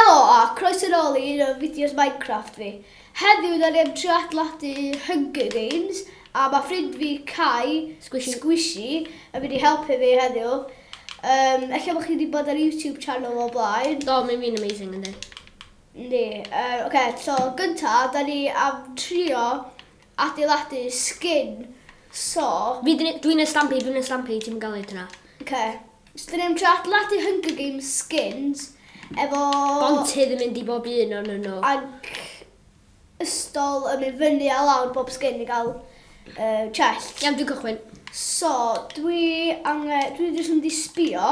Helo a croeso nôl i un o fideos Minecraft fi. Heddiw da ni am trio adladu Hunger Games a mae ffrind fi Kai Squishy. Squishy yn mynd i helpu fi heddiw. Um, Ella bod chi wedi bod ar YouTube channel o blaen. Do, mae'n fi'n amazing ynddi. Ni. Uh, Oce, okay, so gynta, da ni am trio Adeiladu skin so. Fi dyn ni, dwi'n y stampy, dwi'n y stampy, ti'm yn gael hyd yna. Oce. So dyn ni'n trio adeiladu Hunger Games skins efo... Bontydd yn mynd i bob un o'n nhw. Ac ystol yn mynd fyny a lawr bob skin i gael uh, chest. Iawn, dwi'n cychwyn. So, dwi angen, dwi jyst yn mynd i sbio.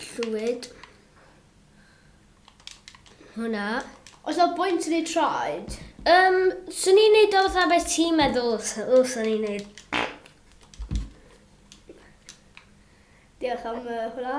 Llwyd. Hwna. Oes na bwynt yn ei traed? Um, swn i'n neud o fatha beth ti'n meddwl, o, swn i'n neud. Diolch am uh, hwnna.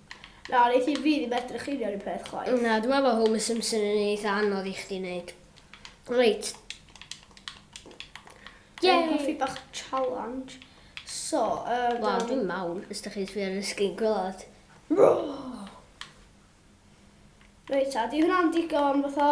Na, wnei ti rili medru chwilio run peth chwaith. Na, dwi'n meddwl bod Homer Simpson yn un eitha anodd i chdi wneud. Reit. Dwi'n hoffi bach challenge. So, um, Wel, dwi'n mawr, os da chi'n sbio ar y sgrin gwylod. Reit, a di hwnna'n digon fatha...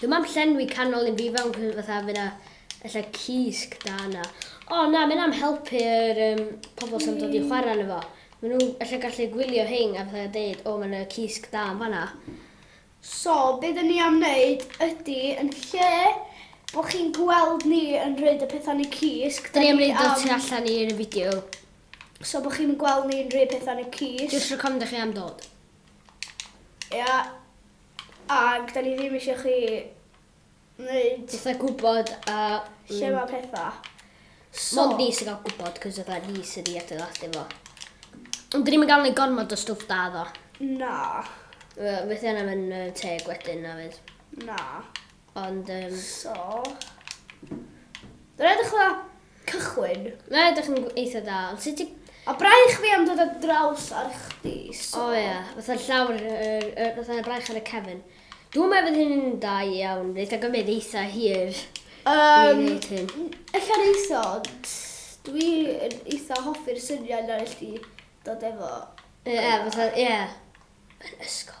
Dwi'm am llenwi canol un fi fewn cos fatha fy' 'na ella cysg da yna. O na ma' hynna'n helpu yr yym pobol sy'n dod i chwara yno fo. Ma' nw ella gallu gwylio rhein a fatha deud o ma' 'na cysg da yn fan'na. So be' 'dyn ni am neud ydi yn lle bo' chi'n gweld ni yn rhoid y petha yn y cysg 'dyn ni am... 'Dyn ni am roid o tu allan i'r fideo. So bo' chi'm yn gweld ni'n rhoi petha yn y cysg. Jyst rhag ofn 'dych chi am dod. Ia. Ac 'da ni ddim isio chi neud... Fatha gwbod a... Lle ma' petha. So... Mond ni sy'n ga'l gwbod 'c'os fatha ni sy 'di adeiladu fo. Ond 'dyn ni'm yn ga'l neud gormod o stwff da iddo. Na. Yy fydd hynna ddim yn yy teg wedyn na fydd? Na. Ond yym... So... Mae'n edrych dda cychwyn. Mae'n edrych yn eitha da, ond sut ti... A braich fi am dod ar draws ar chdi, so... O ia, fatha llawr, yr, yr, fatha braich ar y cefn. Dwi'n meddwl fydd hyn yn da iawn, fydd eitha gymryd eitha hir. Um, Ella reis ond dwi'n eitha hoffi'r syniad na nes di dod efo... Ie, fatha, ie. Yn ysgol.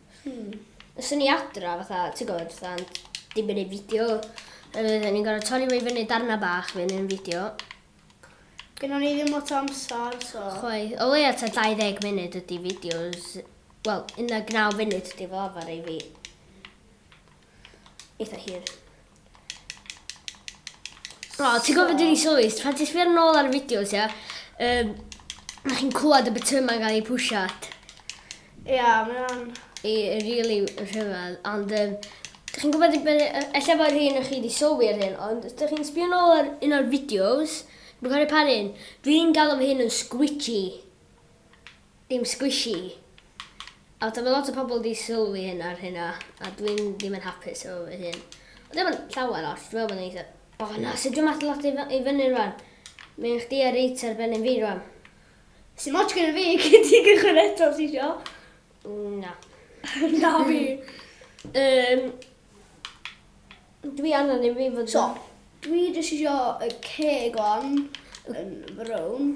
Hmm. Os o'n i adra, fatha, ti'n gwybod, fatha'n dibynnu fideo, a fydden ni'n gorau torri fo i fyny darna bach fe yn fideo. Gynnon ni ddim lot o amser, so... Chwai, o leia ta 20 munud ydy fideos, wel, 19 munud ydy fel arfer i fi. eitha hir. O, oh, ti'n gofyn dyn ni sylwi, pan ti'n sbio'r nôl ar y fideos, ia, um, na chi'n clywed y bytyma gael ei pwsiat. Ia, yeah, mae'n... I really rhyfedd, ond um, dych chi'n gwybod, efallai bod rhywun o'ch chi wedi sylwi ar hyn, ond dych chi'n sbio nôl ar un o'r fideos, dwi'n cael ei pan hyn, dwi'n galw hyn yn squitchy. Dim squishy. A ta ma' lot o pobl 'di sylwi hyn ar hynna, a dwi'n ddim yn hapus efo fy hun. Ond dim ond llawer ots, dwi'n meddwl bod o'n eitha... O na, sy'n dod mas lot i fy- i fyny rwan. Mae un chdi a reit ar ben yn fi rwan. Sdim ots gyda fi, gei di gychwyn eto os ti isio. Na. Na fi. Yym, dwi angen i fi fod yn... So, dwi jyst isio y ceg 'wan yn frown.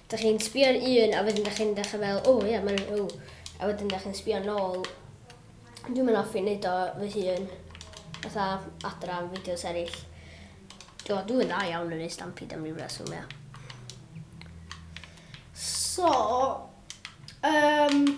Dych chi'n sbio ar un a wedyn dych chi'n dechrau fel o ia mae'n rhyw a wedyn dych chi'n sbio nôl. Dwi'm yn hoffi neud o fy hun fatha adra am fideos eraill. Do dwi yn dda iawn yn neud stampede am ryw reswm ia. So yym.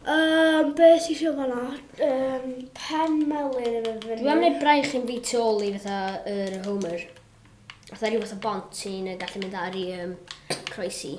Um, be ti eisiau fanna? Um, pen melyn yn mynd fyny. Dwi am wneud braich yn fi tu ôl i fatha yr uh, Homer. Fatha rhyw fath o bont sy'n uh, gallu mynd ar i um, croesi.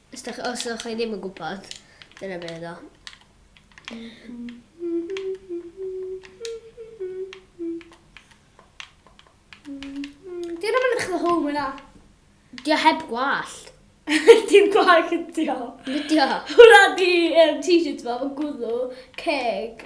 Os dach, os ydych chi ddim yn gwybod, dyna be oedd o. Dyna mae'n edrych efo home yna. Di o heb gwallt. Dim gwag ydi o. Ydi o. Hwna di um, t-shirt fo, fo gwddw, ceg,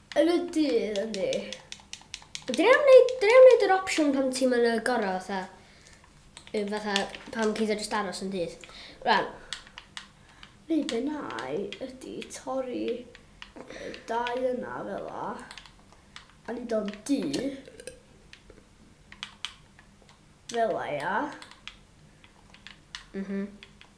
Yn y dydd, yndi. Dyn ni am wneud, dyn ni am wneud yr opsiwn pan ti'n mynd y gorau, fatha, fatha, pan ti'n just aros yn dydd. Rhan. Neu be nai ydy torri y dau yna fel la, a ni o'n du, fel la, ia. Mhm. Mm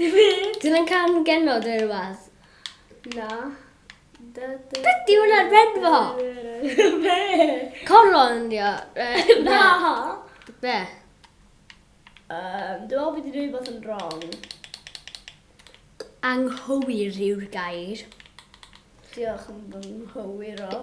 Dyna'n can genod neu rhywbeth? Na. Dydy hwnna'n benfo! Be? Coron ydi o. Na! Be? Um, dwi'n meddwl bod i'n dweud bod yn wrong. Anghywir yw'r gair. Diolch yn fy nghywir o.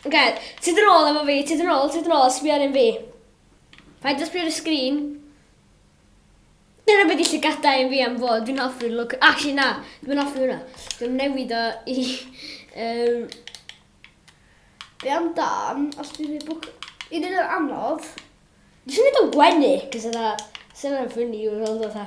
Oce, ti dyn ôl efo fi, ti dyn ôl, ti dyn ôl, sbi ar un fi. Paid â sbio ar y sgrin. Dyna beth i llygada un fi am fod, dwi'n hoffi'r look. Actually na, dwi'n hoffi hwnna. Dwi'n newid o i... Um, Be am dan, os dwi'n ei bwc... Un yn anodd. Dwi'n siŵr o'n gwenu, cos yna... Sy'n yna'n ffynnu i'w roedd o dda.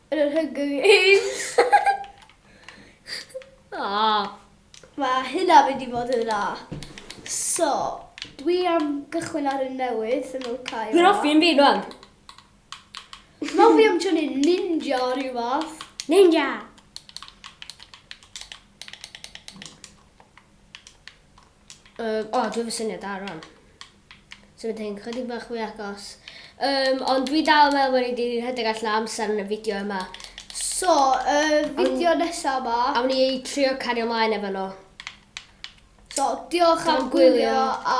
Yn yr Hunger Games. Aww. Mae hynna fynd i fod yn dda. So, dwi am gychwyn ar un newydd, sy'n nhw'n cael. Dwi'n offi yn fi, rwan. Dwi'n offi am tynnu ninja o rhyw fath. Ninja! Uh, o, dwi'n fy syniad da, rwan. Symud hyn chydig bach fwy agos. Um, ond dwi dal yn meddwl bod ni wedi rhedeg allan amser yn y fideo yma. So, y um, fideo nesaf yma... Am ni ei trio cario ymlaen efo nhw. So, diolch am gwylio a...